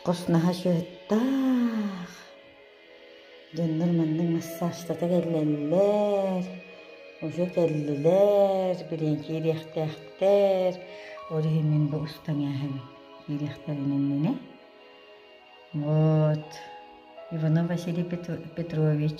Коснаһа сыһыттаах. Дьоннор маннык массажтата кэллэллэр, уже кэллилэр, билиэн киириэхтээхтэр. Ол иһин мин бу устан иһэн киириэхтэрин иннинэ. Вот Иванов Василий Петрович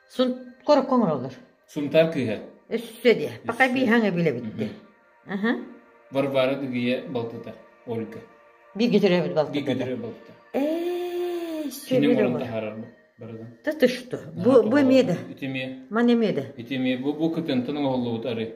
Сункорокко оҥороллор. Сунтаар кыыһа. Өссө диэ. Пока бииһаҥ эбилэбит дии. Аха. Варвара Дыгыйа балтыта. Ольга. Бииргэ төрөөбүт балта. Бииргэ төрөөбүт балта. Ээ, Киним оҕон таһаарарбын. Да ты что? Бу бу эмиэ да. Ити эмиэ. Ман эмиэ да. Ити эмиэ бу бу кытынтан оҥоһуллубут ары.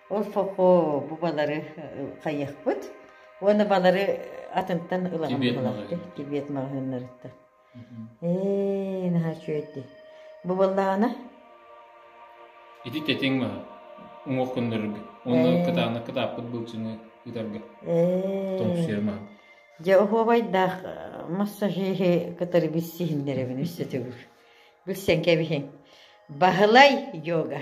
Ол сохо бу балары хайыахпыт уонна балары атынтан ылаҕын булабыт тибиэт маҕаһыыннарыттан. Ээ, наһаа үчүөйдэ. Бу баллаана? Ити тэтиҥ маһа. Уҥуох куннарга. Онно кытаана кытааппыт былчыны ыытарга. Ээ. Тоҥсуйар маһа. Дьэ, оһуобайдаах массажиһы кытары билсиһиннэрэбин үссе төгүр. Билсэн кэбиһиҥ. Баһылай йога.